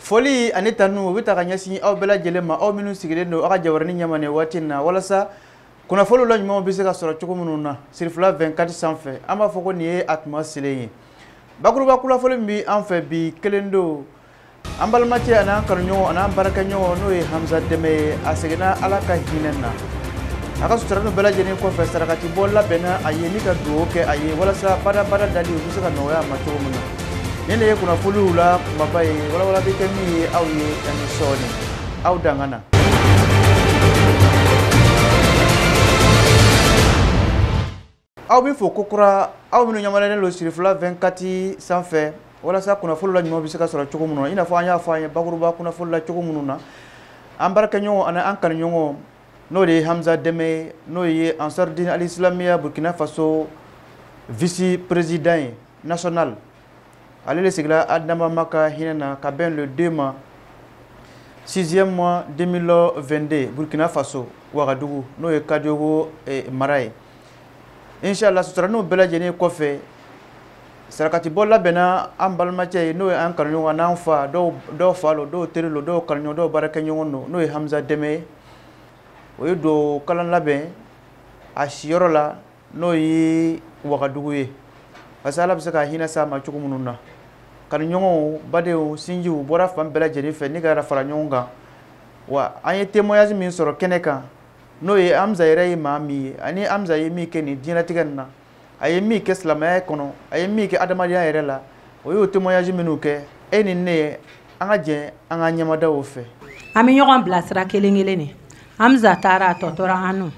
foli ani tanu u bɛ ta ka ɲɛsin aw bɛɛ lajɛlen ma aw minnu sigilen don aw ka jabarani ɲɛma nin waati in na walasa kunnafoliw la ɲumanw bɛ se ka sɔrɔ cogo minnu na sirifila 24 sanfɛ an b'a fɔ ko nin ye a tuma selen ye bakuruba kunnafoli min bɛ an fɛ bi kelen don an balimacɛ ani an kanuɲɔgɔn ani an baarakɛɲɔgɔn n'o ye hamza dɛmɛ ye a seginna ala ka hinɛ na a ka suturalinu bɛɛ lajɛlen kɔfɛ sarakatibɔ labɛnna a ye ni ka dugawu kɛ a ye walasa badabada dali u bɛ se ka nɔgɔya a ma cogo min na nin de ye kunnafoniw la kumaba ye walawala bɛ kɛ min ye aw ye yan ni sɔɔni aw danga na aw bɛ fo kokura aw minnu ɲɛmadalen don sirifila 24 sanfɛ walasa kunnafoni la ɲuman bɛ se ka sɔrɔ cogo minnu na i n'a fɔ an y'a fɔ an ye bakuruba kunnafoni la cogo minnu na an baarakɛɲɔgɔn ani an kanuɲɔgɔn n'o de ye hamza dɛmɛ ye n'o ye ansar dine al islamiya burkina faso vice président ye national ale de seginna a dabaa ka hinɛ na ka bɛn le 2 ma 6e mois 2022 burkina faso wagadugu n'o ye kadiogo eh, mara ye inshallah suturaniw bɛɛ lajɛlen kɔfɛ sarakatibɔ labɛnna an balimacɛ ye n'o ye an kanuɲɔgɔn n'an fa dɔw fa lo dɔw teri lo dɔw kanuɲɔgɔn dɔw baarakɛɲɔgɔn don n'o ye hamza dɛmɛ ye o ye dugawu kalan labɛn a siyɔrɔ la n'o ye wagadugu ye parce que ala bɛ se ka hinɛ s'a ma cogo minnu na kanuɲɔgɔnw badenw sinjiw u bɔra fan bɛɛ lajɛlen fɛ ni ka fara ɲɔgɔn kan wa an ye témoignage min sɔrɔ kɛnɛ kan n'o ye hamza yɛrɛ ye maa min ye ani hamza ye min kɛ nin diɲɛlatigɛ nin na a ye min kɛ silamɛya kɔnɔ a ye min kɛ adamadenya yɛrɛ la o y'o témoignage minnu kɛ e ni ne an ka jɛ an ka ɲɛ mada u fɛ an bɛ ɲɔgɔn bilasira kelen kelen ni hamza taara a tɔ tora an nu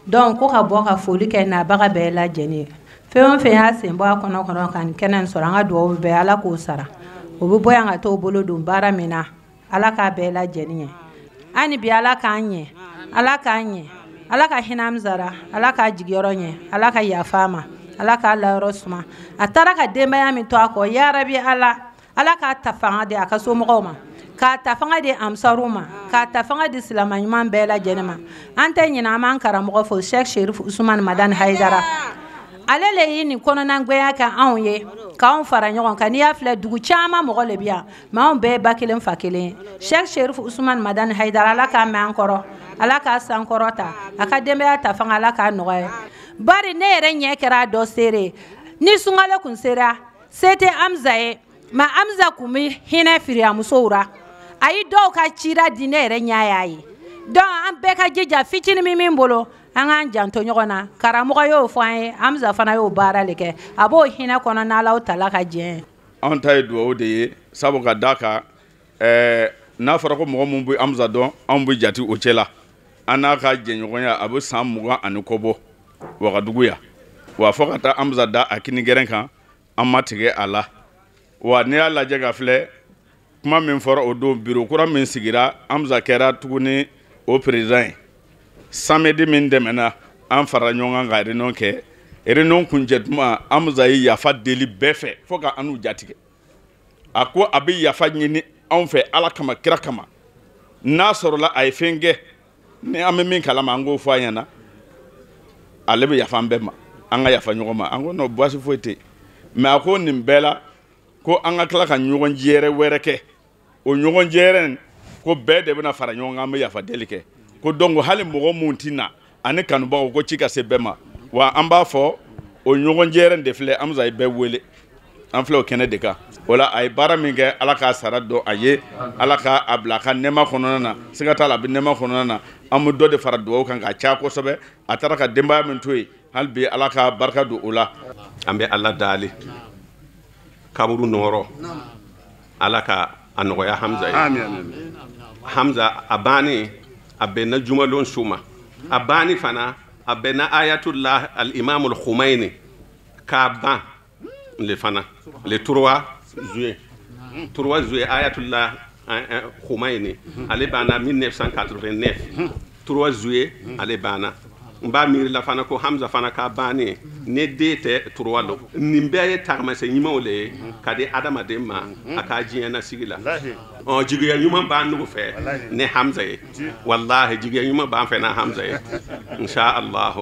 donc ko ka bɔ ka foli kɛ nabaga bɛɛ lajɛlen ye fɛn fɛn y'a sen bɔ a kɔnɔ kɔnɔ ka nin kɛnɛ sɔrɔ an ka dugawu bɛɛ ala k'o sara o bɛ bɔ yan ka t'o bolo don baara min na ala k'a bɛɛ lajɛlen ɲɛ ani bi ala k'an ɲɛ ala k'an ɲɛ ala ka hinɛ hamza ra ala k'a jigiyɔrɔ ɲɛ ala ka yafa a ma ala k'a layɔrɔ suma a taara ka denbaya min to a kɔ yarabi ala ala k'a ta fanga di a ka somɔgɔw ma k'a ta fanga di ansaru ma k'a ta fanga di silama ɲuman bɛɛ lajɛlen ma an tɛ ɲinɛ an b'an karamɔgɔ fo sheikh sherif usman madani haidara ale le ye nin kɔnɔnangoya kɛ anw ye k'anw fara ɲɔgɔn kan n'i y'a filɛ dugu caman mɔgɔ le bi yan mais anw bɛɛ ba kelen fa kelen sheikh sherif usman madani haidara ala k'a mɛn an kɔrɔ ala k'a sankɔrɔta a ka denbaya ta fanga ala k'a nɔgɔya bari ne yɛrɛ ɲɛ kɛra a dɔ seere ni sunkalo kun sera se tɛ hamza ye mais hamza kun bɛ hinɛ firiyamusow ra a ye dɔw ka cira di ne yɛrɛ ɲɛ y'a ye donc an bɛɛ ka jija fitini min min bolo an k'an janto ɲɔgɔn na karamɔgɔ y'o fɔ an ye hamza fana y'o baara le kɛ a b'o hinɛ kɔnɔ n'alaw tala ka jɛ an ta ye dugawu de ye sabu ka da kan ɛɛ n'a fɔra ko mɔgɔ minnu bɛ hamza dɔn anw bɛ jate o cɛ la an n'a ka jɛɲɔgɔnya a bɛ san mugan ani kɔ bɔ wagadugu yan wa fo ka taa hamza da a kini gɛrɛn kan an ma tigɛ a la wa n'i y'a lajɛ ka filɛ kuma min fɔra o don biro kura min sigira hamza kɛra tuguni o perezidan ye samedi min tɛmɛna an farala ɲɔgɔn kan ka reunion kɛ reunion kuncɛ tuma hamza ye yafa deli bɛɛ fɛ fo ka anw jatigɛ a ko a bɛ yafa ɲini anw fɛ ala kama kira kama n'a sɔrɔla a ye fɛn kɛ ni an bɛ min kalama an k'o fɔ a ɲɛna ale bɛ yafa an bɛɛ ma an ka yafa ɲɔgɔn ma an ko non baasi foyi tɛ mais a ko nin bɛɛ la ko an ka tila ka ɲɔgɔn jɛrɛ wɛrɛ kɛ o ɲɔgɔn jɛrɛ ko bɛɛ de bɛna fara ɲɔgɔn kan an bɛ yafa deli kɛ ko donc hali mɔgɔ minnu tɛ na ani kanubagaw ko ci ka se bɛɛ ma wa an b'a fɔ o ɲɔgɔn jɛrɛn de filɛ hamza ye bɛɛ wele an filɛ o kɛnɛ de kan o la a ye baara min kɛ ala k'a sara dɔn a ye ala k'a bila a ka nɛɛma kɔnɔna na siga t'a la a bɛ nɛɛma kɔnɔna na an bɛ dɔ de fara dugawu kan k'a caya kosɛbɛ a taara ka denbaya min to yen hali bi ala ka barika don o la an bɛ ala dali kaburu nɔɔrɔ ala ka a nɔgɔya hamza ye hamza a banni a bɛnna jumalon su ma a banni fana a bɛnna ayatullah al imam al khumaini ka ban le fana le trois juin trois juin ayatullah khumaini ale banna 1989 3 juin ale banna n b'a miiri la fana ko hamza fana ka banni ne date trois lo nin bɛɛ ye tagamasɛ ɲumanw le ye ka di adamaden ma a ka diɲɛ nasigi la ɔ jigiya ɲuman b'an nugu fɛ ni hamza ye walahi jigiya ɲuman b'an fɛ na hamza ye insha allahu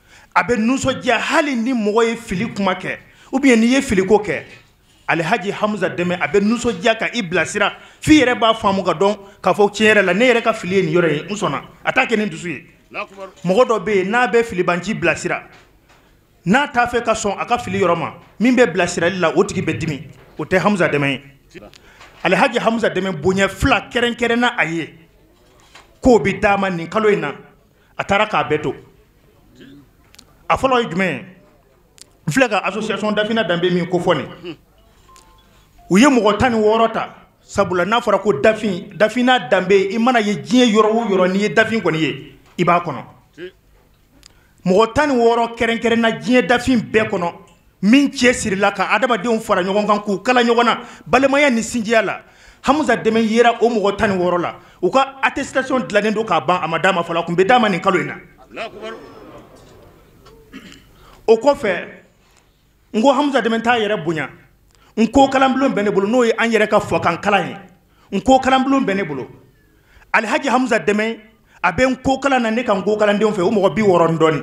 a bɛ nisɔndiya hali ni mɔgɔ ye fili kuma kɛ ou bien n'i ye filiko kɛ Alihaji Hamza Dɛmɛ a bɛ nisɔndiya ka i bilasira f'i yɛrɛ b'a faamu k'a dɔn k'a fɔ tiɲɛ yɛrɛ la ne yɛrɛ ka fili ye nin yɔrɔ ye n sɔnna a t'a kɛ ni dusu ye mɔgɔ dɔ bɛ yen n'a bɛ filibanci bilasira n'a t'a fɛ ka sɔn a ka fili yɔrɔ ma min bɛ bilasirali la o tigi bɛ dimi o tɛ Hamza Dɛmɛ ye Alihaji Hamza Dɛmɛ bonya fila kɛrɛnkɛrɛnna a ye k'o bɛ d'a ma nin kalo in na a taara k'a bɛɛ to a fɔlɔ ye jumɛn ye n filɛ ka association dafina danbe min kofɔ nin u ye mɔgɔ tan ni wɔɔrɔ ta sabula n'a fɔra ko dafin dafina danbe i mana ye diɲɛ yɔrɔ o yɔrɔ n'i ye dafin kɔni ye i b'a kɔnɔ mɔgɔ tan ni wɔɔrɔ kɛrɛnkɛrɛnna diɲɛ dafin bɛɛ kɔnɔ min cɛ sirila ka adamadenw fara ɲɔgɔn kan k'u kala ɲɔgɔn na balimaya ni sinjiya la hamza dɛmɛ yera o mɔgɔ tan ni wɔɔrɔ la u ka attestation dilannen don k'a ban a ma d'a ma fɔlɔ a kun bɛ d'a ma nin kalo in na o kɔfɛ n ko hamza dɛmɛ t'a yɛrɛ bonya nko kalanbulon bɛ ne bolo n'o ye an yɛrɛ ka fɔkan kalan ye nko kalanbulon bɛ ne bolo alhaji hamza dɛmɛ a bɛ nko kalan na ne ka nko kalandenw fɛ o mɔgɔ bi wɔɔrɔ ni dɔɔni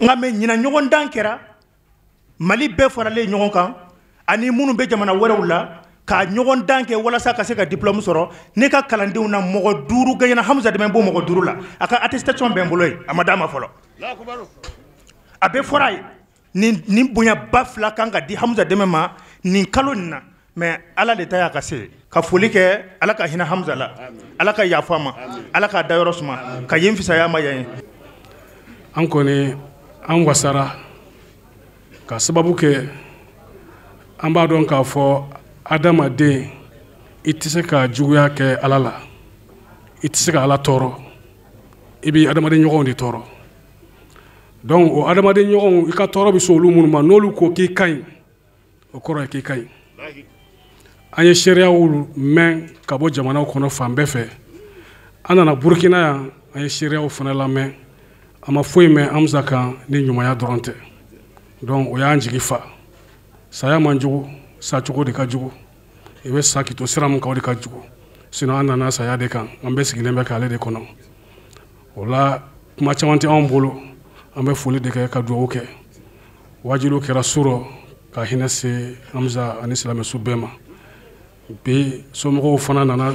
nka mais ɲinan ɲɔgɔndan kɛra mali bɛɛ faralen ɲɔgɔn kan ani minnu bɛ jamana wɛrɛw la ka ɲɔgɔndan kɛ walasa ka se ka diplɔmu sɔrɔ ne ka kalandenw na mɔgɔ duuru gaɲena hamza dɛmɛ b'o mɔgɔ duuru la a ka attestation bɛ n bolo ye a ma d'a ma fɔlɔ a bɛ fɔra a ye nin nin bonyaba fila kan ka di Hamza Dɛmɛ ma nin kalo nin na mais Ala de ta y'a ka se ye ka foli kɛ Ala ka hinɛ Hamza la aami Ala ka yafa a ma aami Ala k'a dayɔrɔ suma aami ka yen fisaya a ma yan ye an kɔni an wasara ka sababu kɛ an b'a dɔn k'a fɔ adamaden i tɛ se ka juguya kɛ Ala la i tɛ se ka Ala tɔɔrɔ i b'i adamaden ɲɔgɔnw de tɔɔrɔ donc o adamaden ɲɔgɔnw i ka tɔɔrɔ bɛ se olu minnu ma n'olu ko k'i ka ɲi o kɔrɔ ye k'i ka ɲi an ye seereyaw mɛn ka bɔ jamanaw kɔnɔ fan bɛɛ fɛ an nana burukina yan an ye seereyaw fana lamɛn an ma foyi mɛn hamza kan ni ɲumanya dɔrɔn tɛ donc o y'an jigi fa saya man jugu sacogo de ka jugu i bɛ sa k'i to sira min kan o de ka jugu sinon an nana saya de kan an bɛɛ sigilen bɛ k'ale de kɔnɔ o la kuma caman tɛ anw bolo an bɛ foli de kɛ ka dugawu kɛ waajuli kɛra su rɔ ka hinɛ se hamza ani silamɛsu bɛɛ ma bi somɔgɔw fana nana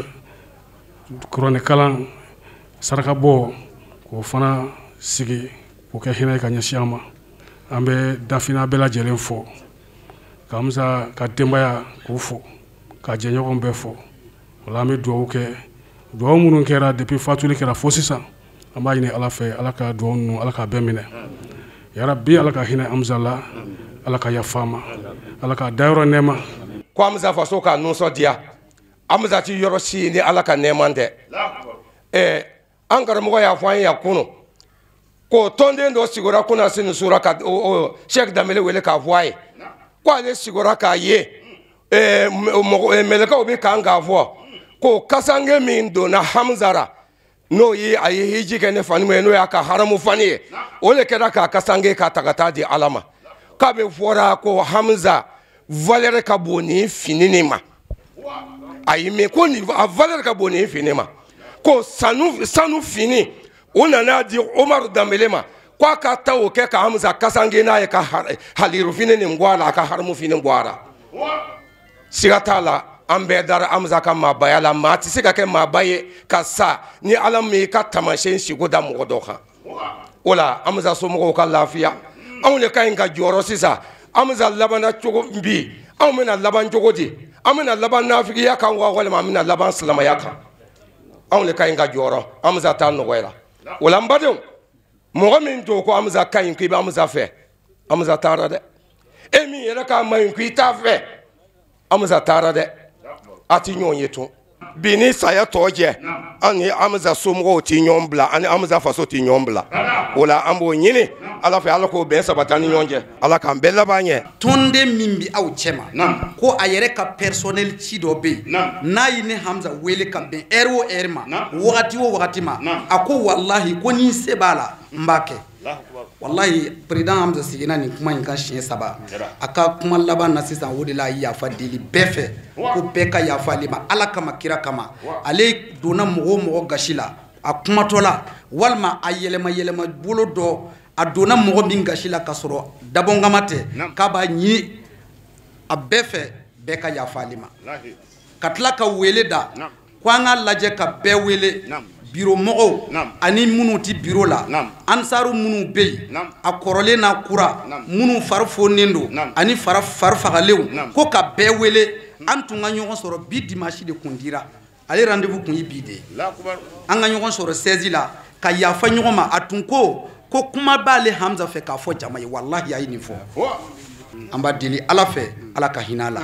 kuranɛkalan sarakabɔ k'o fana sigi k'o kɛ hinɛ ka ɲɛsin a ma an bɛ dafina bɛɛ lajɛlen fo ka hamza ka denbaya k'o fo ka jɛɲɔgɔn bɛɛ fo o la an bɛ dugawu kɛ dugawu minnu kɛra depuis fatuli kɛra fo sisan an b'a ɲini ala fɛ ala ka dugawu ninnu ala k'a bɛɛ minɛ yarabi ala ka hinɛ hamza la ala ka yafa a ma ala k'a dayɔrɔ nɛɛma ko hamza faso k'a nusɔdiya hamza ti yɔrɔ si ni ala ka nɛɛma tɛ ɛɛ an karamɔgɔ y'a fɔ an ye yan kunu ko tɔnden dɔ sugora kunasini sura ka sɛki danbele wele k'a fɔ a ye ko ale sugora k'a ye mɛlɛkɛw bɛ kan k'a fɔ ko kasange min donna hamza ra n'o ye a ye hiji kɛ ni fani ye n'o y'a ka haramu fani ye o de kɛra k'a kasange k'a ta ka taa di ala ma k'a bɛ fɔra ko hamza valeur ka bon ni fini nin ma ayi mais ko nin a valeur ka bon nin fini ma ko sanu fini o nana di Omar Dambele ma ko a ka taa o kɛ ka Hamza kasange n'a ye ka haliru fini nin bɔ a la a ka haramu fini bɔ a la siga t'a la an bɛɛ dara Hamza ka maabaya la maa tɛ se ka kɛ maaba ye ka sa ni Ala m'i ka taamasiyɛn siko da mɔgɔ dɔ kan o la Hamza somɔgɔw ka lafiya anw de ka ɲi ka jɔrɔ sisan Hamza labanna cogo bi anw bɛna laban cogo di an bɛna laban nafigiya kan wa walima an bɛna laban silamaya kan anw de ka ɲi ka jɔrɔ Hamza ta nɔgɔyara o la n badenw mɔgɔ min tun ko Hamza ka ɲi ko i bɛ Hamza fɛ Hamza taara dɛ e min yɛrɛ k'a man ɲi ko i t'a fɛ hamza taara dɛ a tɛ ɲɔgɔn ye tun bi ni saya tɔ cɛ an ni hamza somɔgɔw tɛ ɲɔgɔn bila ani hamza faso tɛ ɲɔgɔn bila o la an b'o ɲini ala fɛ ala k'o bɛn sabati an ni ɲɔgɔn cɛ ala k'an bɛɛ laban ɲɛ tɔnden min bɛ aw cɛma ko a yɛrɛ ka personnel ci dɔ bɛ yen n'a ye ne hamza wele ka bɛn heure o heure ma wagati o wagati ma a ko walahi ko ni se b'a la n b'a kɛ walahi président hamza seginna nin kuma in kan siɲɛ saba a ka kuma laban na sisan o de la a ye yafa deli bɛɛ fɛ ko bɛɛ ka yafa ale ma ala kama kira kama ale donna mɔgɔ o mɔgɔ gasi la a kumatɔ la walima a yɛlɛma yɛlɛma bolo dɔ a donna mɔgɔ min gasi la ka sɔrɔ dabɔnkama tɛ k'a b'a ɲini a bɛɛ fɛ bɛɛ ka yafa ale ma ka tila ka wele da ko an ka lajɛ ka bɛɛ wele biro mɔgɔw ani minnu tɛ biro la ansaru minnu bɛ yen a kɔrɔlen n'a kura minnu fari fonnen don ani fari fagalenw ko ka bɛɛ wele an tun ka ɲɔgɔn sɔrɔ bi dimanche de tun dira ale rendez-vous tun ye bi de ye an ka ɲɔgɔn sɔrɔ 16 la ka yafa ɲɔgɔn ma a tun ko ko kuma b'ale hamza fɛ k'a fɔ jama ye walahi a ye nin fɔ an b'a deli ala fɛ ala ka hinɛ a la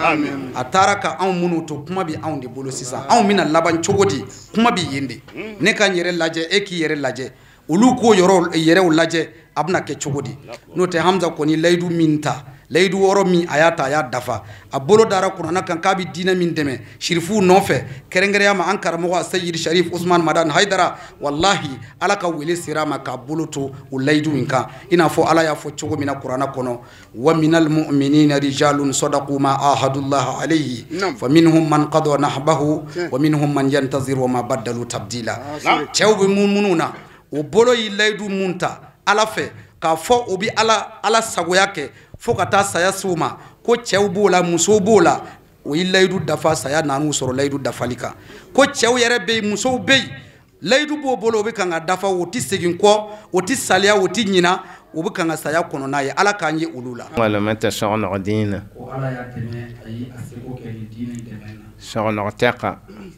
a taara ka anw minnu to kuma bɛ anw de bolo sisan anw bɛna laban cogo di kuma bɛ yen de hmm. ne ka n yɛrɛ lajɛ e k'i yɛrɛ lajɛ olu k'u yɛrɛ yɛrɛw lajɛ a bɛna kɛ cogo di n'o tɛ hamza kɔni layidu min ta layidu wɔɔrɔ min a y'a ta a y'a dafa a bolo dara kuranna kan k'a bɛ diinɛ min dɛmɛ sirifuw nɔfɛ kɛrɛnkɛrɛnya ma an karamɔgɔ seyid sharif usman madan haidara walahi ala ka wele sera a ma k'a bolo to o layidu in kan i n'a fɔ ala y'a fɔ cogo min na kuranna kɔnɔ wa minal mu'minina rijalun sadaqu ma ahadullah alayhi fa minhum man qada nahbahu wa minhum man yantazir wa ma badalu tabdila cɛw bɛ muminiw na o bolo ye layidu mun ta ala fɛ k'a fɔ o bɛ ala ala sagoya kɛ fo ka taa saya se o ma ko cɛw b'o la musow b'o la o ye layidu dafa saya nan'u sɔrɔ layidu dafali kan ko cɛw yɛrɛ bɛ yen musow bɛ yen layidu b'o bolo o bɛ kan ka dafa o tɛ segin kɔ o tɛ saliya o tɛ ɲina o bɛ kan ka saya kɔnɔ n'a ye ala k'an ye olu la. walima tɛ sɔgɔ nɔgɔ diinɛ. ko ala y'a dɛmɛ a ye a seko kɛ nin diinɛ in dɛmɛ na. sɔgɔ nɔgɔ tɛ kan.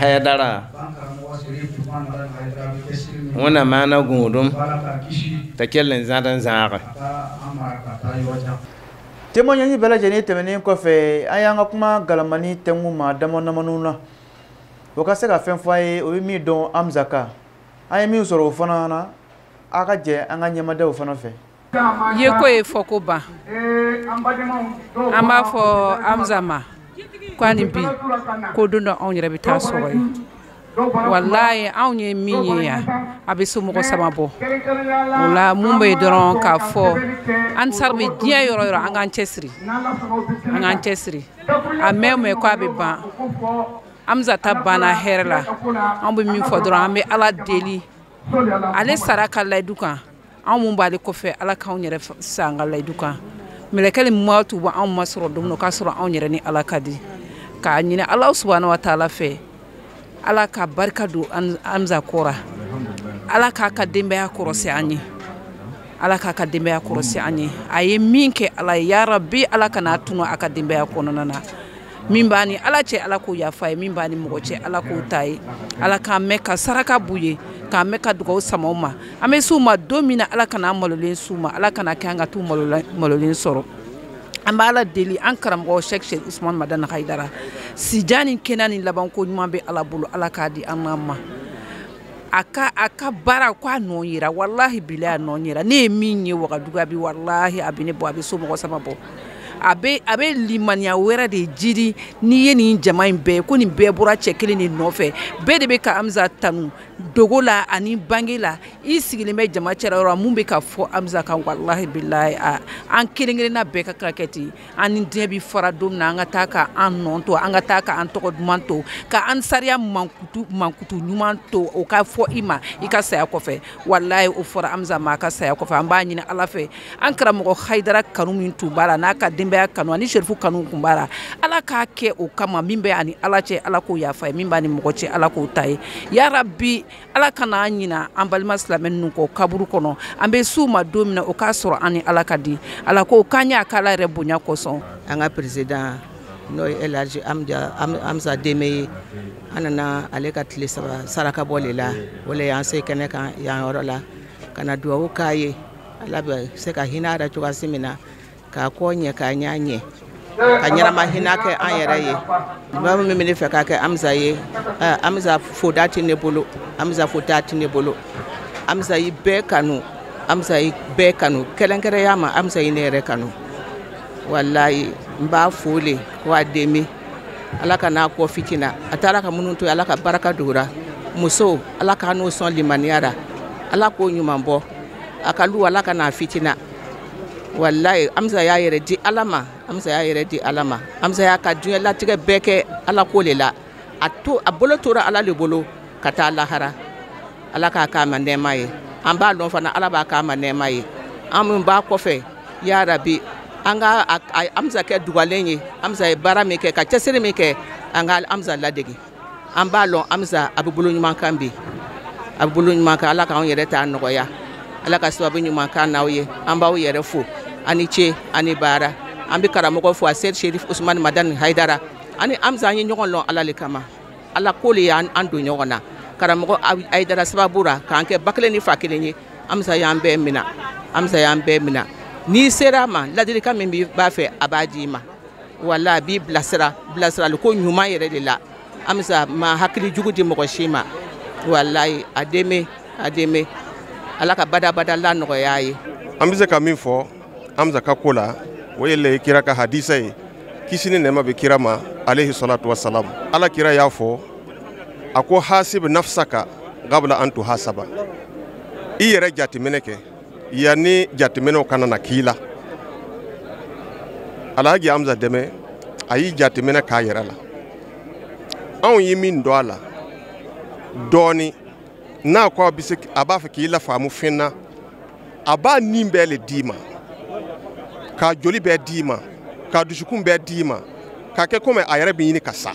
hayidara wani mana gudun ta kyallin zaɗin zaɗa témoignage bɛɛ lajɛlen tɛmɛnen kɔfɛ an y'an ka kuma galamani tɛngu ma dama damaniw na o ka se ka fɛn fɔ a ye o ye min dɔn amza kan an ye min sɔrɔ o fana na a ka jɛ an ka ɲɛmadaw fana fɛ yeko ye fɔko ban an b'a fɔ amza ma ko ani bi ko don dɔ anw yɛrɛ bɛ taa sɔrɔ yen walayi anw ye min ye yan a bɛ somɔgɔ sama bɔ o la mun bɛ yen dɔrɔn k'a fɔ ansari bɛ diɲɛ yɔrɔ o yɔrɔ an k'an cɛsiri an k'an cɛsiri a mɛn o mɛn ko a bɛ ban amza ta banna hɛrɛ la an bɛ min fɔ dɔrɔn an bɛ ala deli ale sara a ka layidu kan anw mun b'ale kɔfɛ ala k'anw yɛrɛ sa an ka layidu kan mɛlɛkɛl mawutu b'anw masɔrɔ don min na k'a sɔrɔ anw yɛrɛ ni ala ka di k'a ɲini ala subahana wa taala fɛ ala ka barika don amza kɔ ra ala k'a ka denbaya kɔrɔsi an ye ala k'a ka denbaya kɔrɔsi an ye a ye min kɛ ala ye yarabi ala kan'a tunun a ka denbaya kɔnɔna na min b'a ni ala cɛ ala k'o yafa a ye min b'a ni mɔgɔ cɛ ala k'o ta a ye ala k'an mɛn ka saraka b'u ye k'an mɛn ka dugaw sama u ma an bɛ s'u ma don min na ala kana an malolen s'u ma ala kan'a kɛ an ka t'u malolen sɔrɔ an b'ala deli an karamɔgɔ sɛk serifu usman madani hayidara sijan ni kɛnɛya ni labanko ɲuman bɛ ala bolo ala k'a di an n'a ma a ka a ka baara ko a nɔ yera walahi bilahi a nɔ yera ne ye min ye wagadugu bi walahi a bɛ ne bɔ a bɛ somɔgɔ sama bɔ a bɛ a bɛ limaniya wɛrɛ de jiri n'i ye nin jama in bɛɛ ko nin bɛɛ bɔra cɛ kelen de nɔfɛ bɛɛ de bɛ ka amza tanu dogo la ani bange la i sigilen bɛ jama cɛla yɔrɔ mun bɛ ka fɔ amza kan walahi bilahi a an kelen kelenna bɛɛ ka kan ka kɛ ten an ni diɲɛ bɛ fara don min na an ka taa ka an nɔ to an ka taa ka an tɔgɔ duman to ka an sariya mankutu ɲuman to o ka fɔ i ma i ka saya kɔfɛ walayi o fɔra amza ma a ka saya kɔfɛ an b'a ɲini ala fɛ an karamɔgɔ hayidara kanu min tun b'a la n'a ka denbaya kanu ani serifu kanu tun b'a la ala k'a kɛ o kama min bɛ a ni ala cɛ ala k'o yafa a ye min b'a ni mɔgɔ cɛ ala k'o ta a ye yarabi ala kana an ɲina an balima silamɛ ninnu kɔ kaburu kɔnɔ an bɛ s'u ma don min na o k'a sɔrɔ an ni ala ka di ala k'o k'an y'a k'ala yɛrɛ bonya kosɔn an ka peresidan n'o ye elhaji amsa deme ye an nana ale ka tile saba saraka bɔ le la o le y'an se kɛnɛ kan yan yɔrɔ la ka na duwawu k'a ye ala bɛ se ka hinɛ a la cogoya si min na k'a kɔ ɲɛ k'a ɲɛ ɲɛ ka ɲɛnama hinɛ kɛ an yɛrɛ ye ba min bɛ ne fɛ k'a kɛ amisa ye amisa foda tɛ ne bolo amisa foda tɛ ne bolo amisa yi bɛɛ kanu amisa yi bɛɛ kanu kɛrɛnkɛrɛnya ma amisa yi ne yɛrɛ kanu walayi n b'a fo le ko a deme ala kan'a kɔ fitina a taara ka minnu to ala ka baraka don u ra muso ala k'a n'o sɔn limaniya ra ala k'o ɲuman bɔ a ka lu ala kan'a fitina walayi amisa y'a yɛrɛ di ala ma amisa y'a yɛrɛ di ala ma amisa y'a ka diɲɛ latigɛ bɛɛ kɛ ala ko le la a bolo tora ala le bolo ka taa lahara ala k'a k'a ma nɛɛma ye an b'a lɔn fana ala b'a k'a ma nɛɛma ye an min b'a kɔfɛ ya rabi an ka amisa kɛ dugalen ye amisa ye baara min kɛ ka cɛsiri min kɛ an ka amisa ladege an b'a lɔn amisa a bɛ bolo ɲuman kan bi a bɛ bolo ɲuman kan ala k'an yɛrɛ ta nɔgɔya ala ka sababu ɲuman k'an n'aw ye an b'aw yɛrɛ fo a ni ce a ni baara an bɛ karamɔgɔ fo a seyidi sherif usman madani haidara ani amisa an ye ɲɔgɔn lɔn ala le kama ala ko le y'an don ɲɔgɔn na karamɔgɔ haidara sababu ra k'an kɛ ba kelen ni fa kelen ye amisa y'an bɛɛ mina amisa y'an bɛɛ mina n'i sera a ma ladilikan min b'a fɛ a b'a d'i ma wala a b'i bilasira bilasirali ko ɲuman yɛrɛ de la amsa ma hakili jugu di mɔgɔ si ma walayi a deme a deme ala ka badabada lanɔgɔya ye an bɛ se ka min fɔ amsa ka ko la o ye ala kira ka hadisa ye kisi ni nɛɛma bɛ kira ma alehi salatu wasalam ala kira y'a fɔ a ko hasib nafsaka qabla an tuhasaba i yɛrɛ jateminɛ kɛ yanni jateminɛw ka na na k'i la alhaji amsa deme a yi jateminɛ k'a yɛrɛ la anw ye min dɔn a la dɔɔni n'a ko a bɛ se a b'a fɛ k'i lafaamu fɛn na a b'a ni bɛɛ le d'i ma k'a joli bɛɛ d'i ma k'a dusukun bɛɛ d'i ma k'a kɛ komi a yɛrɛ bɛ ɲini ka sa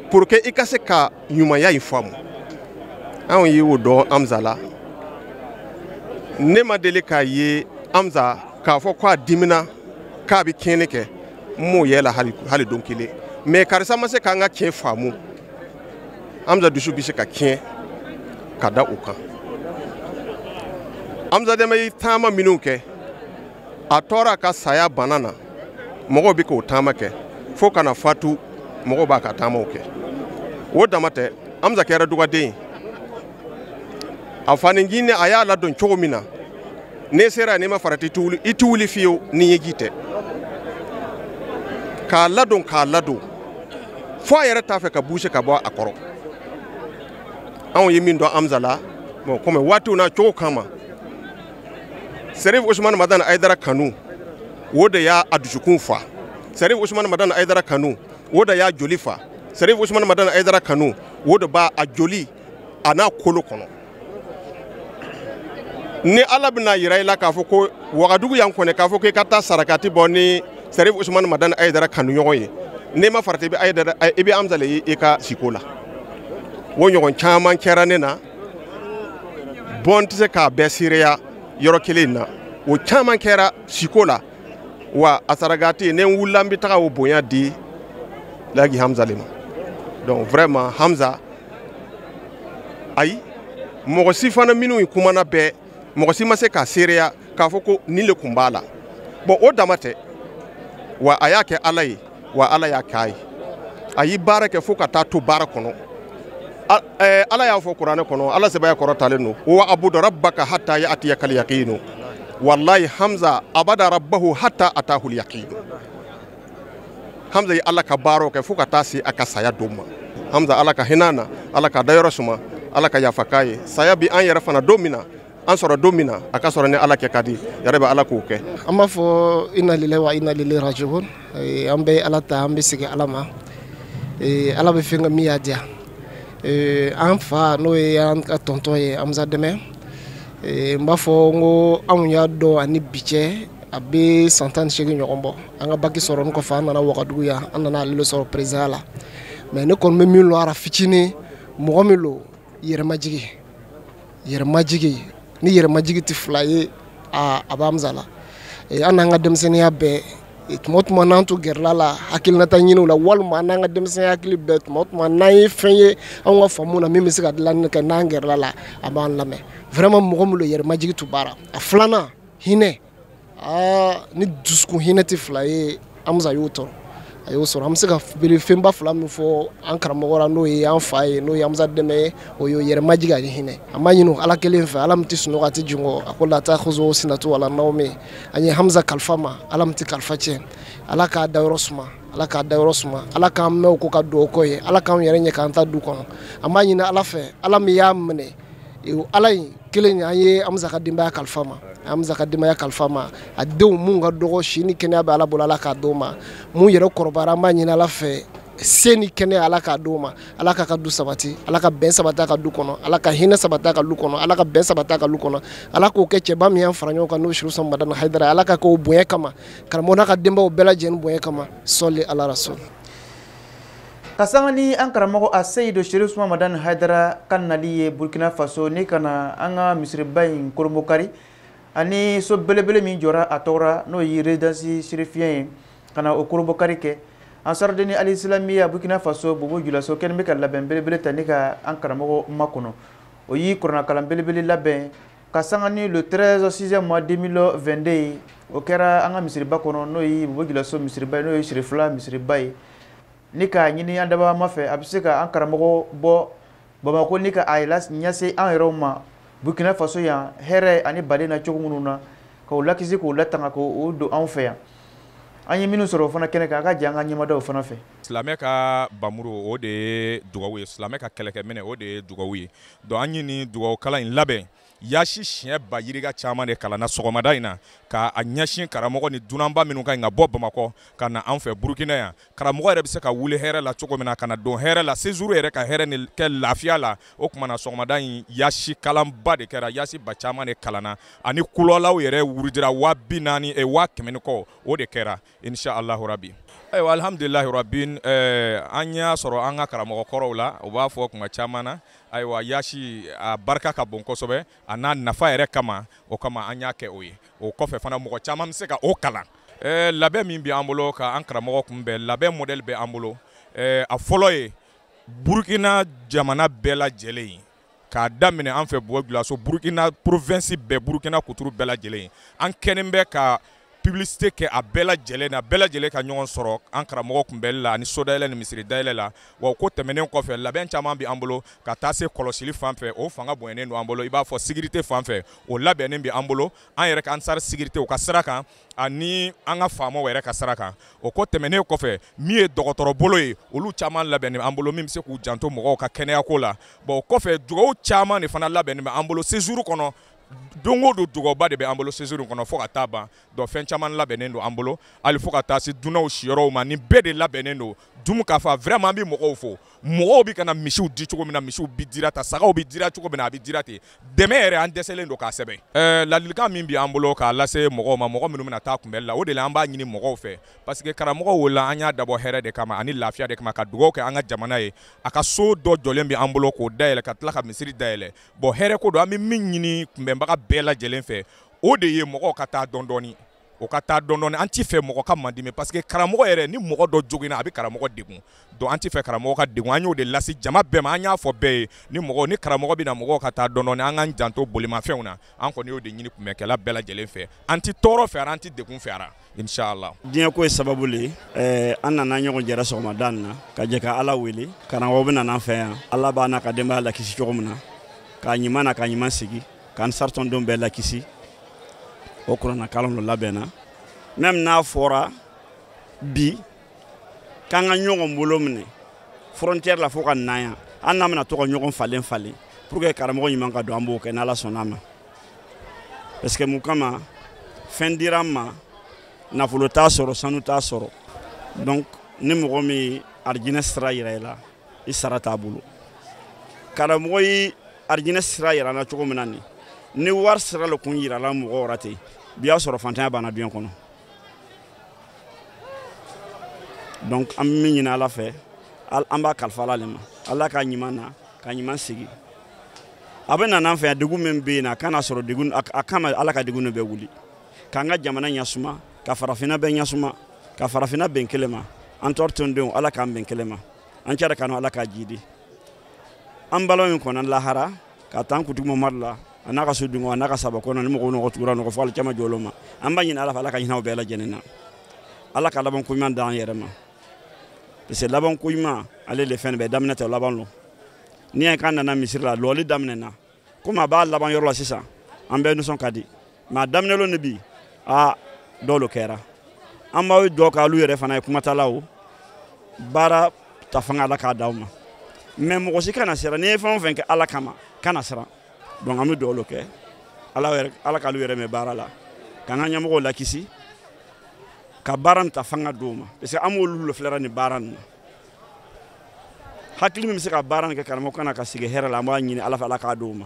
pour que i ka se ka ɲumanya in faamu anw ye o dɔn amza la ne ma deli k'a ye amza k'a fɔ ko a dimina k'a bɛ tiɲɛni kɛ n m'o y'a la hali don kelen mais karisa ma se k'an ka tiɲɛ faamu amza dusu bɛ se ka tiɲɛ ka da o kan amza deme ye taama minnu kɛ a tɔɔra a ka saya bana na mɔgɔw bɛ k'o taama kɛ fo ka na fatu mɔgɔw b'a ka taamaw kɛ o dama tɛ hamza kɛra dugaden a fani jinɛ a y'a ladon cogo min na n'e sera n'i ma farati i tɛ wuli fiyewu ni ɲɛji tɛ k'a ladon k'a ladon fo a yɛrɛ t'a fɛ ka bouger ka bɔ a kɔrɔ anw ye min dɔn hamza la bon kɔmi waatiw na cogo kama Serif Ousmane Madan Aïdara kanu o de y'a dusukun fa Serif Ousmane Madan Aïdara kanu o de y'a joli fa Serif Ousmane Madan Aïdara kanu o de b'a a joli a n'a kolo kɔnɔ ni Ala bɛna yira i la k'a fɔ ko Wagadugu yan kɔni k'a fɔ k'i ka taa sarakati bɔ ni Serif Ousmane Madan Aïdara kanu ɲɔgɔn ye n'i ma farati i bɛ Hamza le ye i ka siko la o ɲɔgɔn caman kɛra ne na bon n tɛ se k'a bɛɛ seereya yɔrɔ kelen na o caman kɛra siko la wa a sarakati ni n wulila n bɛ taga o bonya di laji hamza le ma donc vraiment hamza ayi mɔgɔ si fana minnu kumana bɛɛ mɔgɔ si ma se k'a seereya k'a fɔ ko nin le kun b'a la bon o dama tɛ wa a y'a kɛ ala ye wa ala y'a k'a ye a ye baara kɛ fo ka taa to baara kɔnɔ eh, ala y'a fɔ kuranɛ kɔnɔ ala se b'a ye a kɔrɔtalen don wa abudu rabbaka hatta ya'tiyaka al-yaqin wallahi hamza abada rabbahu hatta atahu al-yaqin hamza ye ala ka baaraw kɛ fo ka taa se a ka saya don ma hamza ala ka hinɛ a na ala k'a dayɔrɔ suma ala ka yafa k'a ye saya bi an yɛrɛ fana don min na an sɔrɔ don min na a ka sɔrɔ ni ala kɛ ka di yɛrɛ bɛ ala k'o kɛ an b'a fɔ inna lillahi wa inna ilayhi raji'un eh, an bɛ ala ta an bɛ segin ala ma eh, ala bɛ fɛn kɛ min y'a diya eh, an fa n'o ye an ka tɔntɔn ye hamza dɛmɛ n b'a fɔ n ko anw y'a dɔn ani bi cɛ a bɛ san tan ni seegin ɲɔgɔn bɔ an ka baki sɔrɔ kɔfɛ an nana wagadugu yan an nana ale sɔrɔ perezidanya la mais ne kɔni bɛ min lɔn a ra fitinin mɔgɔ min lo yɛrɛmajigi yɛrɛmajigi ni yɛrɛmajigi tɛ fila ye aa a bɛ hamza la eh, an n'an ka denmisɛnninya bɛɛ eh, tuma tuma n'an tun gɛrɛla a la hakilinata ɲiniw la walima n'an ka denmisɛnninya hakili bɛɛ tuma tuma n'an ye fɛn ye anw ka faamu na min bɛ se ka dilanni kɛ n'an gɛrɛla a la a b'an lamɛn vraiment mɔgɔ min lo yɛrɛmajigi tun b'a ra a filanan hinɛ aa ni dusukun hinɛ tɛ fila ye hamza y'o tɔɔrɔ a y'o sɔrɔ an bɛ se ka bere fɛnba fila min fɔ an karamɔgɔ la n'o ye an fa ye n'o ye hamza dɛmɛ ye o y'o yɛrɛmajigi ani hinɛ an b'a ɲini ala kelen fɛ ala min tɛ sunɔgɔ a tɛ jingɔn a ko la ta'khudhuhu sinatun wa la nawmun an ye hamza kalifa ma ala min tɛ kalifa tiɲɛ ala k'a da yɔrɔ suma ala k'a da yɔrɔ suma ala k'an mɛn u kɔ ka dugawu k'u ye ala k'an yɛrɛ ɲɛ k'an ta du kɔnɔ an b'a ɲini ala fɛ ala min y'a minɛ ala in kelen an ye an b'a ka denbaya kalifa ma an b'a ka denbaya kalifa ma a denw minnu ka dɔgɔ si ni kɛnɛya bɛ ala bolo ala k'a d'o ma minnu yɛrɛ kɔrɔbayara an b'a ɲini ala fɛ si ni kɛnɛya ala k'a d'o ma ala k'a ka du sabati ala ka bɛn sabati a ka du kɔnɔ ala ka hinɛ sabati a ka du kɔnɔ ala ka bɛn sabati a ka du kɔnɔ ala k'o kɛ cɛba min y'an fara ɲɔgɔn kan n'o seri usuman madani haidara ala k'a k'o bonya kama karamɔgɔ n'a ka denbaya bɛɛ lajɛlen bonya kama sɔli ala rasul ka sanga ni an karamɔgɔ aseyidu serifu usuman madani haidara ka nali ye burkina faso ni ka na an ka misiriba in kurunbonkari ani so belebele min jɔra a tɔgɔ ra n'o ye rezidansi serifiyɛn ye ka na o kurunbonkari kɛ ansaridini alisilamiya burkina faso bobo julaso kɛnin bɛ ka labɛn belebele ta ni ka an karamɔgɔ makɔnɔ o ye kuranakalan belebele labɛn ka sanga ni le 13 6 mois 2022 ye o kɛra an ka misiriba kɔnɔ n'o ye bobo julaso misiriba ye n'o ye sirifila misiriba ye ni k'a ɲini an dabaa ma fɛ a bɛ se ka an karamɔgɔ bɔ bamako ni ka a ɲɛsin an yɛrɛw ma burkina faso yan hɛrɛ ani baden na cogo minnu na k'o lakisi k'o latanga k'o don anw fɛ yan an ye minnu sɔrɔ o fana kɛnɛ kan a ka jan an ka ɲɛmadaw fana fɛ silamɛ ka bamuru o de ye dugawu ye silamɛ ka kɛlɛkɛminɛ o de ye dugawu ye Donc an ye nin dugawukalan in labɛn yasi siɲɛ ba yirika caman de kalanna sɔgɔmada in na k'a ɲɛsin karamɔgɔ ni dunanba minnu ka ɲi ka bɔ bamakɔ ka na an fɛ burukina yan karamɔgɔ yɛrɛ bɛ se ka wuli hɛrɛ la cogo min na ka na don hɛrɛ la sezuru yɛrɛ ka hɛrɛ ni kɛ lafiya la o tuma na sɔgɔmada in yasi kalanba de kɛra yasi ba caman de kalanna ani kuluwalahu yɛrɛ wurudira waa bi naani waa kɛmɛ ni kɔ o de kɛra Inshallahu rabi ayiwa alihamdulilahi rabi an y'a sɔrɔ an ka karamɔgɔ kɔrɔw la u b'a fɔ tuma caman na ayiwa yasi a barika ka bon kosɛbɛ a n'a nafa yɛrɛ kama o kama an y'a kɛ o ye o kɔfɛ fana mɔgɔ caman bɛ se ka o kalan labɛn min bɛ an bolo ka an karamɔgɔ kunbɛn labɛn modɛli bɛ an bolo a fɔlɔ ye burukina jamana bɛɛ lajɛlen ye k'a daminɛ an fɛ bobo julaso burukina porovɛnsi bɛɛ burukina kuturu bɛɛ lajɛlen an kɛlen bɛ ka pibilisite kɛ a bɛɛ lajɛlen na bɛɛ lajɛlen ka ɲɔgɔn sɔrɔ an karamɔgɔ kunbɛnli la ani so dayɛlɛ ni misiri dayɛlɛ la wa o ko tɛmɛnen kɔfɛ labɛn caman bɛ an bolo ka taa se kɔlɔsili fan fɛ o fanga bonyanen don an bolo i b'a fɔ sekirite fan fɛ o labɛnnen bɛ an bolo an yɛrɛ ka ansari sekirite o ka sira kan ani an ka faamaw yɛrɛ ka sira kan o ko tɛmɛnen kɔfɛ min ye dɔgɔtɔrɔ bolo ye olu caman labɛnnen bɛ an bolo min bɛ se k'u janto mɔgɔw ka kɛnɛyako la bon o kɔfɛ dugawu caman de fana labɛnnen bɛ an bolo séjour kɔnɔ don o don dugawuba de bɛ an bolo séjour kɔnɔ fo ka taa ban donc fɛn caman labɛnnen don an bolo hali fo ka taa se dunanw siyɔrɔw ma nin bɛɛ de labɛnnen don Dumukafa vraiment an bɛ mɔgɔw fo mɔgɔw bɛ kana misiw di cogo min na misiw bɛ dira tan sagaw bɛ dira cogo min na a bɛ dira ten dɛmɛ yɛrɛ an dɛsɛlen don k'a sɛbɛn ɛɛ ladilikan min bɛ an bolo k'a lase mɔgɔw ma mɔgɔ minnu bɛna taa kunbɛli la o de la an b'a ɲini mɔgɔw fɛ parce que karamɔgɔ wo la an y'a dabɔ hɛrɛ de kama ani lafiya de kama ka dugawu kɛ an ka jamana ye a ka so dɔ jɔlen bɛ an bolo k'o dayɛlɛ ka tila ka misiri dayɛlɛ bon hɛrɛ ko don an bɛ min ɲini kunbɛnbaga bɛɛ lajɛlen fɛ o de ye mɔgɔw ka taa dɔɔni dɔɔni o ka taa dɔɔni dɔɔni an t'a fɛ mɔgɔ ka mandimi parce que karamɔgɔ yɛrɛ ni mɔgɔ dɔ joginna a bɛ karamɔgɔ degun donc an t'a fɛ karamɔgɔ ka degun an y'o de lase jama bɛɛ ma an y'a fɔ bɛɛ ye ni mɔgɔ ni karamɔgɔ bɛna mɔgɔw ka taa dɔɔni dɔɔni an k'an janto bolimafɛnw na an kɔni y'o de ɲini kunbɛnkɛla bɛɛ lajɛlen fɛ an tɛ tɔɔrɔ fɛ a ra an tɛ degun fɛ a ra inshallah diɲɛ ko ye sababu le ye an nana ɲɔgɔn jɛra sɔgɔmada nin na ka jɛ ka ala wele karamɔgɔ bɛ nana an fɛ yan ala b'a n'a ka denbaya lakisi cogo min na k'a ɲuman na k'a ɲuman segi k'ansari tɔndenw bɛɛ lakisi o kurana kalan dɔ labɛnna même n'a fɔra bi k'an ka ɲɔgɔn bolo minɛ frontière la fo ka na yan an n'a bɛna to ka ɲɔgɔn falen falen pour que karamɔgɔ ɲuman ka don an b'o kɛ n'ala sɔnn'a ma parce que mun kama fɛn dira an ma nafolo t'a sɔrɔ sanu t'a sɔrɔ donc ni mɔgɔ min arijinɛ sira yira i la i sara t'a bolo karamɔgɔ ye arijinɛ sira yir'an na cogo min na nin ni wari sira le kun yira la mɔgɔ wɛrɛ ten bi y'a sɔrɔ fantanya banna duɲɛ kɔnɔ donc an bɛ min ɲini ala fɛ an b'a kalifa ala le ma ala k'a ɲuman na k'a ɲuman segi a bɛ nana an fɛ yan degun min bɛ yen na a kana sɔrɔ degun a kama ala ka degun bɛɛ wuli k'an ka jamana ɲɛsuma ka farafinna bɛɛ ɲɛsuma ka farafinna bɛn kelen ma ansari tɔndenw ala k'an bɛn kelen ma an cɛ kanu ala k'a jiidi an balimaw min kɔnna lahara k'a ta an kuntigi mamadu la a n'a ka so dungo a n'a ka sahaba kɔnɔ ni mɔgɔ o mɔgɔ tugur'a nɔ kɔ fo alikiyama jɔ lon ma an b'a ɲini ala fɛ ala ka hinɛ u bɛɛ lajɛlen na ala ka labanko ɲuman d'an yɛrɛ ma parce que labanko ɲuman ale le fɛn bɛɛ daminɛ tɛ laban lo n'i y'a k'an nana misiri la lɔli daminɛ na komi a b'a laban yɔrɔ la sisan an bɛɛ nisɔn ka di mais a daminɛ lon ni bi a dɔw lo kɛra an b'aw jɔ k'alu yɛrɛ fana ye kumatalaw baara ta fanga ala k'a d'aw ma mais mɔgɔ si kana siran n'i ye fɛn o fɛn kɛ ala kama kana siran donc an bɛ dugawu kɛ ala yɛrɛ ala k'alu yɛrɛ mɛɛn baara la k'an ka ɲɛmɔgɔw lakisi ka baara nin ta fanga d'o ma parce que an b'olu lafilɛra nin baara nin na hakili min bɛ se ka baara nin kɛ karamɔgɔ ka na ka segi hɛrɛ la an b'a ɲini ala fɛ ala k'a di u ma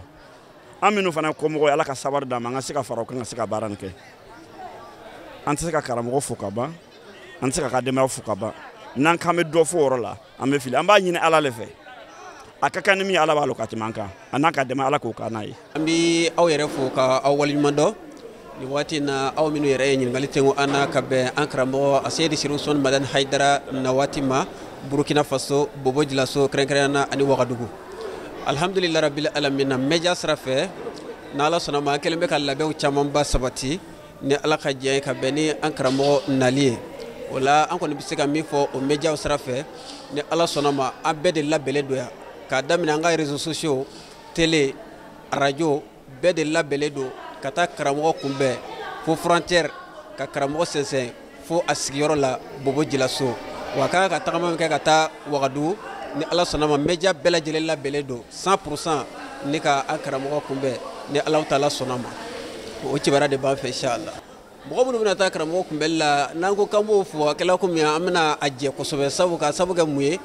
an minnu fana ye kɔmɔgɔw ye ala ka sabari d'an ma an ka se ka fara o kan ka se ka baara nin kɛ an tɛ se ka karamɔgɔ fo ka ban an tɛ se k'a ka denbaya fo ka ban n'an k'an bɛ dɔ fo o yɔrɔ la an bɛ fili an b'a ɲini ala le fɛ a ka kan ni min ye ala b'a lɔn ka tɛmɛ an kan a n'a ka dɛmɛ ala k'o k'an n'a ye an bɛ aw yɛrɛ fo ka aw waleɲuman dɔn nin waati na aw minnu yɛrɛ ye ɲininkali tengo an na ka bɛn an karamɔgɔ aseyidi sirifu usumani madani hayidara na waati ma burukina faso bobo jilaso kɛrɛnkɛrɛnnenya na ani wagadugu alhamdulilayi rabili alamina media sira fɛ n'ala sɔnna ma an kɛlen bɛ ka labɛnw camanba sabati ni ala ka diɲɛ ye ka bɛn ni an karamɔgɔ nali ye o la an kɔni bɛ se ka min fɔ o media sira fɛ ni ala sɔnna ma an bɛɛ de labɛnnen don yan k'a daminɛ an ka réseaux sociaux tele arajo bɛɛ de labɛnlen don ka taa karamɔgɔ kunbɛn fo frontière ka karamɔgɔ sɛnsɛn fo a sigiyɔrɔ la bobo jilaso wa a ka kan ka tagama min kɛ ka taa wagadugu ni ala sɔnna ma media bɛɛ lajɛlen labɛnlen don 100 pourcent ni ka an karamɔgɔ kunbɛn ni alahu taala sɔnna ma o kibaruya de b'an fɛ inshallah mɔgɔ minnu bɛna taa karamɔgɔ kunbɛnli la n'an ko k'an b'o fo a kɛla komi an bɛna a jɛ kosɛbɛ sabu ka sabu kɛ mun ye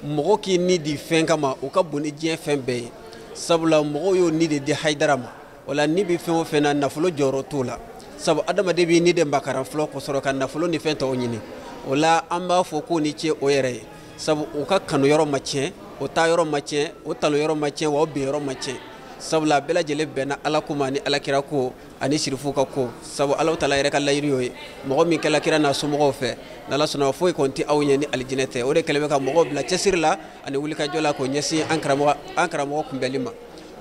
mɔgɔ k'i ni di fɛn kama o ka bon ni diɲɛ fɛn bɛɛ ye sabula mɔgɔw y'o ni de di hayidara ma o la ni bɛ fɛn o fɛn na nafolo jɔyɔrɔ t'o la sabu adamaden b'i ni de makaran fɔlɔ kosɔrɔ ka nafolo ni fɛn tɔw ɲini o la an b'a fɔ k'o ni ce o yɛrɛ ye sabu o ka kanu yɔrɔ ma tiɲɛ o taa yɔrɔ ma tiɲɛ o talon yɔrɔ ma tiɲɛ wa o bin yɔrɔ ma tiɲɛ sabula a bɛɛ lajɛlen bɛnna ala ko ma ni ala kira ko ani sirifu ka ko sabu ala taala yɛrɛ ka layiru y'o ye mɔgɔ min kɛla kira n'a somɔgɔw fɛ n'ala sɔnna foyi kɔni tɛ a ɲɛ ni alijinɛ tɛ o de kɛlen bɛ ka mɔgɔw bila cɛsiri la ani wulikajɔ la k'o ɲɛsin an karamɔgɔ kunbɛnli ma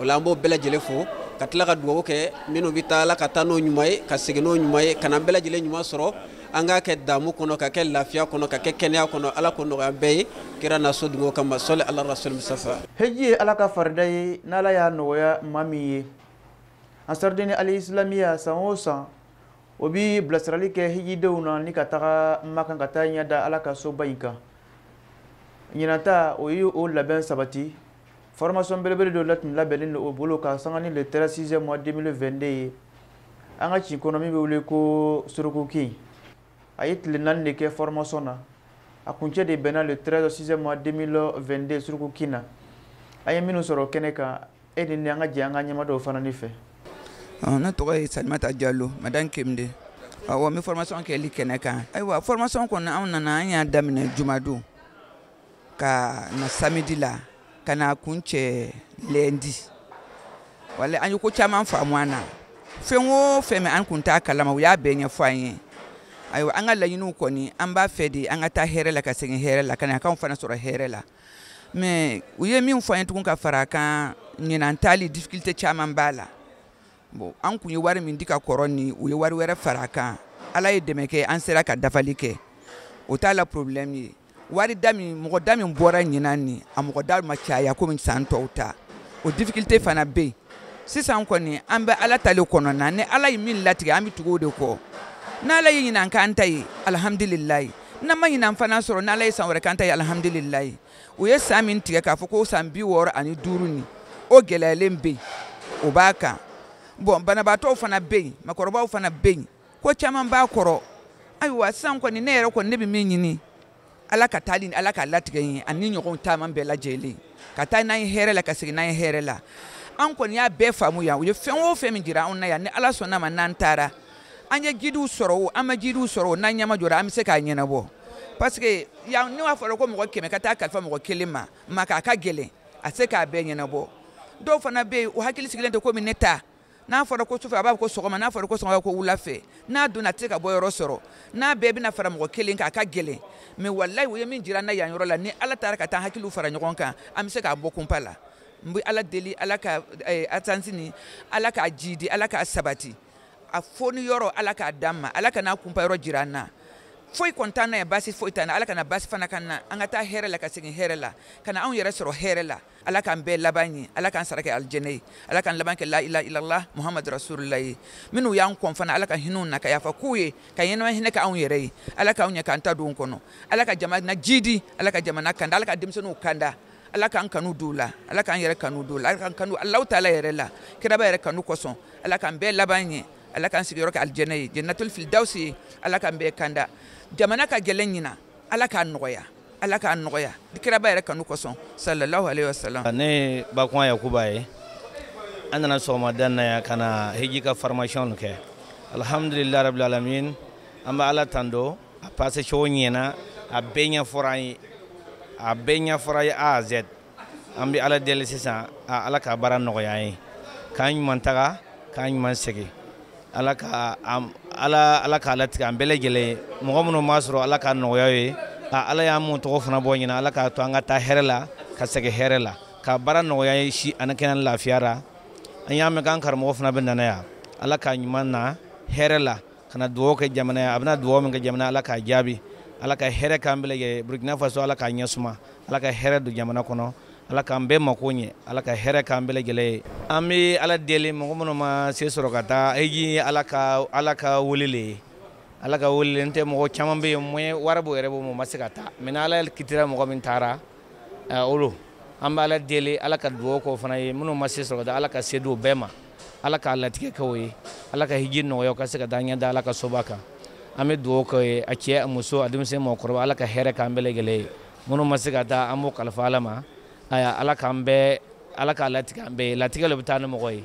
o la an b'o bɛɛ lajɛlen fo ka tila ka dugawu kɛ minnu bɛ taa ala ka taa n'o ɲuman ye ka segin n'o ɲuman ye ka n'an bɛɛ lajɛlen ɲuman sɔrɔ an k'a kɛ damu kɔnɔ ka kɛ lafiya kɔnɔ ka kɛ kɛnɛya kɔnɔ ala k'o nɔgɔya bɛɛ ye kira n'a so dungo kama sɔli ala rasuli musutafa hiji ye ala ka farida ye n'ala y'a nɔgɔya maa min ye ansarudini alisilamiya san o san o bi bilasirali kɛ hijidenw na ni ka taga makan ka taa ɲɛ da ala ka soba in kan ɲinata o ye o labɛn sabati formation belebele dɔ la tun labɛnnen don o bolo ka sanga ni le 13 sixième mois 2022 ye an ka kin kɔnɔ min bɛ wele ko surukukin a ye tile naani de kɛ formation na a kuncɛ de bɛnna le 13 6 mois 2022 surukukin na an ye minnu sɔrɔ kɛnɛ kan e ni an ka jɛ an ka ɲɛma dɔw fana ni fɛ ne tɔgɔ ye salimata jalo madame kemde awɔ n bɛ formation kɛli kɛnɛ kan ayiwa formation kɔni anw nana an y'a daminɛ jumadon ka na samedi la ka na kuncɛ lundi voilà an ye ko caman faamu a na fɛn o fɛn min an kun t'a kalama u y'a bɛɛ ɲɛfɔ an ye ayiwa an ka laɲiniw kɔni an b'a fɛ de an ka taa hɛrɛ la ka segin hɛrɛ la ka na k'aw fana sɔrɔ hɛrɛ la mais u ye min fɔ an ye tugun ka fara a kan ɲinan taali difficulté caman b'a la bon an kun ye wari min di ka kɔrɔ ni u ye wari wɛrɛ fara kan ala ye dɛmɛ kɛ an sera ka dafali kɛ o t'a la problème ye wari da min mɔgɔ da min bɔra ɲinan ni a mɔgɔ da ma caya komi san tɔw ta o difficulté fana bɛ yen sisan kɔni an bɛ ala ta le kɔnɔna ni ala ye min latigɛ an bɛ tugu o de kɔ n'ala ye ɲinan k'an ta ye alhamdulilayi n'an ma ɲinan fana sɔrɔ n'ala ye san wɛrɛ k'an ta ye alhamdulilayi u ye san min tigɛ k'a fɔ ko san bi wɔɔrɔ ani duuru ni o gɛlɛyalen bɛ yen o b'a kan bon banabaatɔw fana bɛ yen makɔrɔbaw fana bɛ yen ko caman b'a kɔrɔ ayiwa sisan kɔni ne yɛrɛ kɔni ne bɛ min ɲini ala ka taali ni ala ka latigɛ ye ani ɲɔgɔn caman bɛɛ lajɛlen ka taa n'an ye hɛrɛ la ka segin n'an ye hɛrɛ la an kɔni y'a bɛɛ faamuya u ye fɛn o fɛn min jira anw na yan ni ala sɔnna ma n'an taara an ye guidew sɔrɔ o an ma guidew sɔrɔ o n'an ɲɛmaa jɔra an bɛ se k'a ɲɛnabɔ parce que yan ne b'a fɔ ko mɔgɔ kɛmɛ ka taa kalifa mɔgɔ kelen ma maka a ka gɛlɛn a se k'a bɛɛ ɲɛnabɔ dɔw fana bɛ yen o hakili sigilen tɛ komi ne ta n'a fɔra ko sufɛ a b'a fɔ ko sɔgɔma n'a fɔra ko sɔgɔma ko wula fɛ n'a donna a tɛ se ka bɔ yɔrɔ sɔrɔ n'a bɛɛ bɛna fara mɔgɔ kelen kan a ka gɛlɛn mais walayi u ye min jira an na yan yɔrɔ la ni ala taara ka taa hakiliw fara ɲɔgɔn kan an bɛ se k'a bɔ kunpa la n bɛ ala deli ala ka eh, agence ni ala k'a jiidi ala k'a sabati a foni yɔrɔ ala k'a d'an ma ala kana kunpa yɔrɔ jira an na foyi kɔni t'an na yan basi foyi t'an na ala kana basi fana k'an na an ka taa hɛrɛ la ka segin hɛrɛ la ka na anw yɛrɛ sɔrɔ hɛrɛ la ala k'an bɛɛ laban ɲɛ ala k'an sara kɛ alijɛnɛ ye ala k'an laban kɛ la ilaha illallah muhamadu rasulullah ye minnu y'an kɔn fana ala ka hinɛ u na ka yafa k'u ye ka ɲɛnama hinɛ kɛ anw yɛrɛ ye ala k'anw ɲɛ k'an ta don kɔnɔ ala ka jamana jiidi ala ka jamana kanda ala ka denmisɛnninw kanda ala k'an kanu don u la ala k'an yɛrɛ kanu don u la ala k'an kanu alahu taala yɛrɛ la kiraba yɛrɛ kanu kosɔn ala k'an bɛɛ laban ɲɛ ala k'an sigiyɔrɔ kɛ alijɛnɛ ye jannatul firdausi ye ala k'an bɛɛ kanda jamana ka gɛlɛn ɲina ala k'a nɔgɔya ala k'a nɔgɔya kiraba yɛrɛ kanu kosɔn sallallahu alaihi wasallam ne ye bakuan yakuba ye an nana sɔgɔmada na yan ka na hiji ka formation kɛ alhamdulilayi rabil alamin an bɛ ala tando a passé cogo ɲɛna a bɛɛ ɲɛfɔra an ye a bɛɛ ɲɛfɔra ye a à z an bɛ ala deli sisan a ala ka baara nɔgɔya an ye k'an ɲuman taga k'an ɲuman segin ala ka ala ala k'a latigɛ an bɛɛ lajɛlen ye mɔgɔ minnu m'a sɔrɔ ala k'a nɔgɔya ye a ala y'an mun tɔgɔ fana bɔ ɲina ala k'a to an ka taa hɛrɛ la ka segin hɛrɛ la ka baara nɔgɔya ye si ani kɛnɛ lafiya ra an y'a mɛn k'an karamɔgɔ fana bɛna na yan ala k'a ɲuman na hɛrɛ la ka na dugawu kɛ jamana ye a bɛna dugawu min kɛ jamana ye ala k'a jaabi ala ka hɛrɛ k'an bɛɛ lajɛlen ye burkina faso ala k'a ɲɛ suma ala ka hɛrɛ don jamana kɔnɔ ala k'an bɛɛ mako ɲɛ ala ka hɛrɛ k'an bɛɛ lajɛlen ye an bɛ ala deli mɔgɔ minnu ma se sɔrɔ ka taa hiji ala ka ala ka wele le ye ala ka wele n tɛ mɔgɔ caman bɛ yen moyen wari b'o yɛrɛ bolo mais o ma se ka taa mais ala kitira mɔgɔ min taara olu an bɛ ala deli ala ka dugawu k'o fana ye minnu ma se sɔrɔ ka taa ala ka se d'o bɛɛ ma ala k'a latigɛ kɛ u ye ala ka hiji nɔgɔya ka se ka taa ɲɛ da ala ka soba kan an bɛ dugawu k'o ye a cɛ a muso a denmisɛn mɔgɔkɔrɔba ala ka hɛrɛ k'an bɛɛ lajɛlen ye minnu ma se ka taa an b'o kalifa ala ma ayiwa ala k'an bɛɛ ala k'a latigɛ an bɛɛ ye latigɛ de bɛ taa ni mɔgɔ ye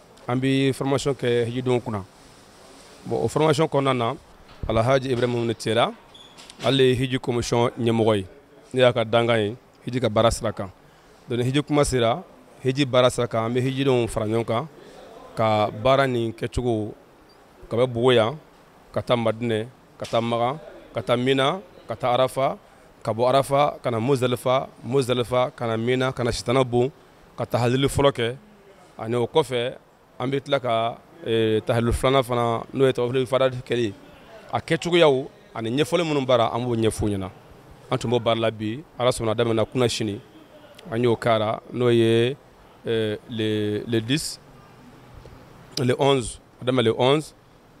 an bɛ formation kɛ hijidenw kunna bon o formation kɔnɔna na alhaji ibrahima tera ale ye hiji commission ɲɛmɔgɔ ye ne y'a ka dankan ye hiji ka baara sira kan donc ni hiji kuma sera hiji baara sira kan an bɛ hijidenw fara ɲɔgɔn kan ka baara nin kɛcogo ka bɔ bobo yan ka taa madinɛ ka taa makan ka taa mina ka taa arafa ka bɔ arafa ka na muzalifa muzalifa ka na mina ka na sitana bon ka tahalili fɔlɔ kɛ ani o kɔfɛ an bɛ tila ka eh, tahalili filanan fana n'o ye tawafili fada kɛli a kɛcogoyaw ani ɲɛfɔli minnu b'a ra an b'o ɲɛf'u ɲɛna an tun b'o baara la bi ala sɔnna a daminɛna kunasini an y'o kɛra n'o ye eh, le le 10 le 11 a daminɛ le 11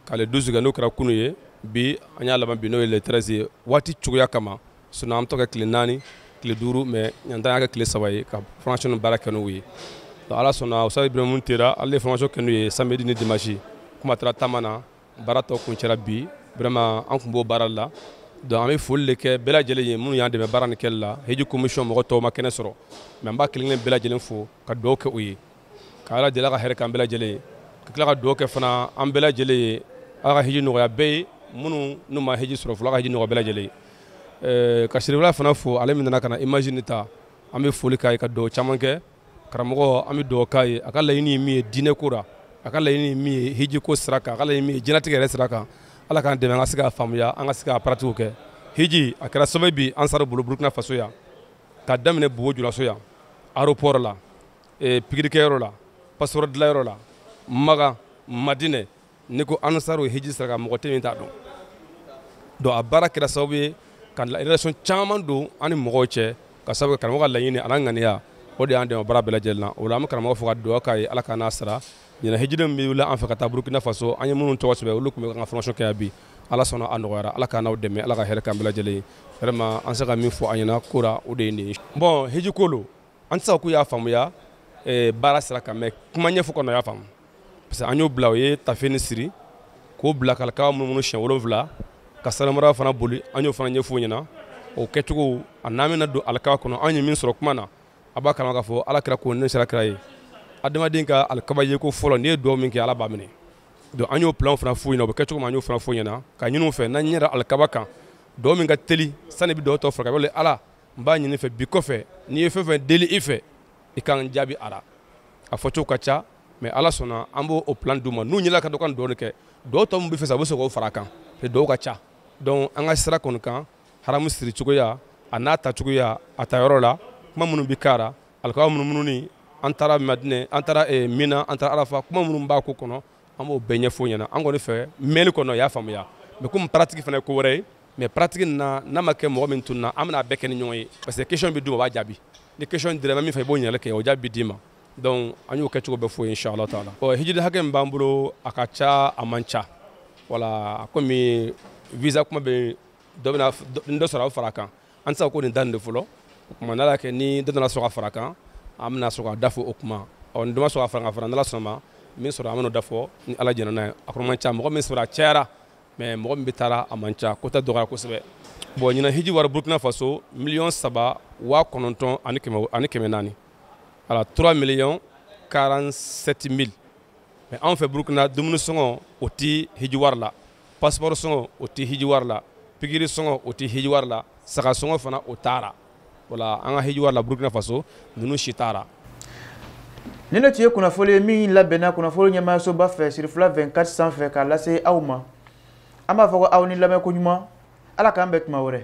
ka le 12 kɛ n'o kɛra kunu ye bi an y'a laban bi n'o ye le 13 ye waati cogoya kama sinon an bɛ to ka tile naani tile duuru mais ɲinan ta y'a kɛ tile saba ye ka formation nin baara kɛ n'u ye donc ala sɔnna Usitazi Ibirahimu Tera ale ye formation kɛ n'u ye samedi ni dimanche komi a taara taama na baara tɔ kuncɛra bi vraiment an tun b'o baara la donc an bɛ foli de kɛ bɛɛ lajɛlen ye minnu y'an dɛmɛ baara nin kɛli la hiji commission mɔgɔ tɔw ma kɛnɛ sɔrɔ mais an b'a kelen-kelen bɛɛ lajɛlen fo ka dugawu kɛ u ye ka ala deli ka hɛrɛ k'an bɛɛ lajɛlen ye ka tila ka dugawu kɛ fana an bɛɛ lajɛlen ye ala ka hiji nɔgɔya bɛɛ ye minnu n'u ma hiji sɔrɔ fɔlɔ ka hiji nɔgɔya bɛɛ lajɛlen ye eh, ka cherifla fana fo ale min nana ka na image nin ta an bɛ foli k'a ye ka dugawu caman kɛ karamɔgɔ an bɛ dugawu k'a ye a ka laɲini ye min ye diinɛ ko la a ka laɲini ye min ye hiji ko sira kan a ka laɲini min ye diɲɛlatigɛ yɛrɛ sira kan ala k'an dɛmɛ an ka se k'a faamuya an ka se k'a pratiquer kɛ hiji a kɛra sababu bi ansaru bolo burukina faso yan ka daminɛ bobo julaso yan aéroport la ee pikirikɛyɔrɔ la passeport dilanyɔrɔ la makan madinɛ n'i ko ansaru hiji sira kan mɔgɔ tɛ min t'a dɔn donc a baara kɛra sababu ye ka relation caman don an ni mɔgɔw cɛ ka sababu kɛ karamɔgɔ ka laɲini a n'a ŋaniya o de y'an dɛmɛ baara bɛɛ lajɛlen na o la an bɛ karamɔgɔ fo ka dugawu k'a ye ala k'a n'a sara ɲinan hijiden min bɛ wuli an fɛ ka taa burukina faso an ye minnu tɔgɔ sɛbɛn olu tun bɛ an ka formation kɛ yan bi ala sɔnna a nɔgɔyara ala k'an n'aw dɛmɛ ala ka hɛrɛ k'an bɛɛ lajɛlen ye vraiment an se ka min fɔ an ɲɛna ko la o de ye nin ye bon hiji ko lo an tɛ se k'u y'a faamuya eh, baara sira kan mais kuma ɲɛfɔ kɔnɔ u y'a faamu parce que an y'o bila o ye taafe nin siri k'o bila k'alikaba munumunu siɲɛ wolonwula ka safa marwa fana boli an y'o fana ɲɛf'u ɲɛna o kɛcogo a n'an bɛna don alikaba kɔnɔ an ye min sɔrɔ kuma na a b'a kalama k'a fɔ ala kira ko ne sera kira ye adamaden ka alikaba yeko fɔlɔ n'i ye dugawu min kɛ ala b'a minɛ donc an y'o plan fana f'u ɲɛna o bɛ kɛ cogo min an y'o fana f'u ɲɛna ka ɲin'u fɛ n'an ɲɛ da alikaba kan dugawu min ka teli sani i bɛ dugawu tɔ furakɛ wale ala n b'a ɲini i fɛ bi kɔfɛ ni n ye fɛn fɛn deli i fɛ i ka n jaabi a la a fɔ cogo ka ca mais ala sɔnna an b'o plan d'u ma n'u ɲɛna ka dɔ ka duwawu kɛ duwawu tɔ min b'u fɛ sa u bɛ se k'o fara a kan duwawu ka ca donc an ka sira kɔni kan haramu siri cogoya a n'a ta cogoya a ta yɔrɔ la kuma minnu bɛ k'a la alikaba munumunu ni an taara madinɛ an taara eh, mina an taara arafa kuma minnu b'a ko kɔnɔ an b'o bɛɛ ɲɛfɔ ɲɛna an kɔni fɛ mɛnni kɔnɔ y'a faamuya mais komi pratique fana ye ko wɛrɛ ye mais pratique na n'a ma kɛ mɔgɔ min tun na an bɛna a bɛɛ kɛ ni ɲɔgɔn ye parce que question bɛ d'u ma u b'a jaabi ni question dɔ bɛ min fɛ i b'o ɲininkali kɛ o jaabi bɛ d'i ma donc an y'o kɛcogo bɛɛ fɔ u ye inchallah t'a la hijiden hakɛ min b'an bolo a ka ca a man ca voilà kɔmi visa kuma bɛ dɔ bɛna dɔ sɔrɔ a bɛ fara a kan an tɛ se ka ko nin da nin de fɔlɔ o tuma n'ala kɛ ni dɔ nana sɔrɔ ka fara a kan an bɛna sɔrɔ k'a da fɔ o tuma ɔ ni dɔ ma sɔrɔ ka fara ka fara n'ala sɔnna a ma min sɔrɔ an bɛn'o da fɔ ni ala jɛna n'a ye a kɔni man ca mɔgɔ min sɔrɔ a cayara mais mɔgɔ min bɛ taa la a man ca quota dɔgɔya kosɛbɛ bon ɲinan hiji wari burkina faso miliyɔn saba waa kɔnɔntɔn ani kɛmɛ naani voilà trois millions 47 mille mais anw fɛ burkina dumuni sɔngɔ o tɛ hiji wari la passeport sɔngɔ o tɛ hiji wari la pikiri sɔngɔ o tɛ hiji wari la saga sɔngɔ fana o t'a la voilà an ka hiji wari la burkina faso ninnu si t'a la nin de tun ye kunnafoli ye min labɛnna kunnafoli ɲɛmaayasoba fɛ sirifila 24 sanfɛ k'a lase aw ma an b'a fɔ ko aw ni lamɛn ko ɲuman ala k'an bɛn tuma wɛrɛ